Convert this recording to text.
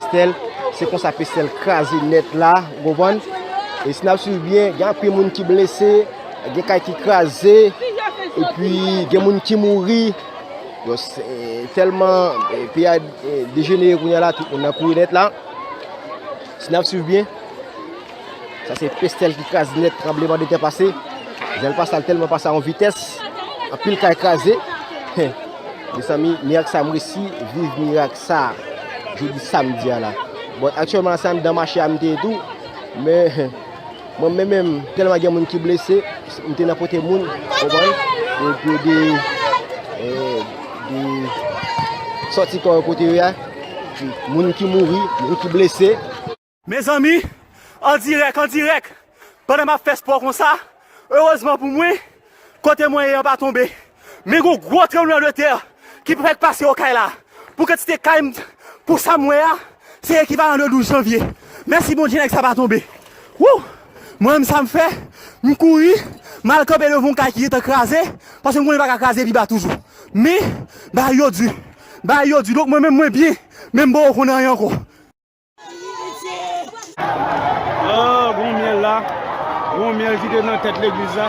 Pestel se konsa pestel kraze nèt la ou konprann e si nap swiv byen gen anpil moun ki blese gen kay ki kraze epi gen moun ki mouri tèlman peyi a dejenere kounya la tout moun nan kouri nèt la si nap swiv byen. Sa se pestel ki kraze nèt tranbleman de tè pase. Zèl pa sal tèlman pase a yon vitès. Anpil kay kraze. Mezanmi, mirak sa m resi viv mirak sa jodi samdi a la. Bon, aktyèlman la se anndan mache a m te ye tou. Men, mwen menm menm tèlman gen moun ki blese, m te nan kote moun, konprann? Yo te de de sòti kò yo kote yo a. Moun ki mouri, moun ki blese. Mezanmi an dirèk an dirèk pandan map fè spò konsa erezman pou mwen kote mwen ye an pa tonbe men gon gwo tranbleman de tè ki pou fèk pase okay la pou kantite kay m pou sam wè a se ekivalan de 12 janvye mèsi Bondye nèg sa pa tonbe wouh mwen menm sam fè m kouri mal kanpe devan yon kay ki gentan kraze paske m konnen li paka kraze pi ba toujou men bagay yo di bagay yo di donk mwen menm mwen byen menm boo konn anyen ankò. Ooh gon myèl la Gon myèl ki te nan tèt legliz la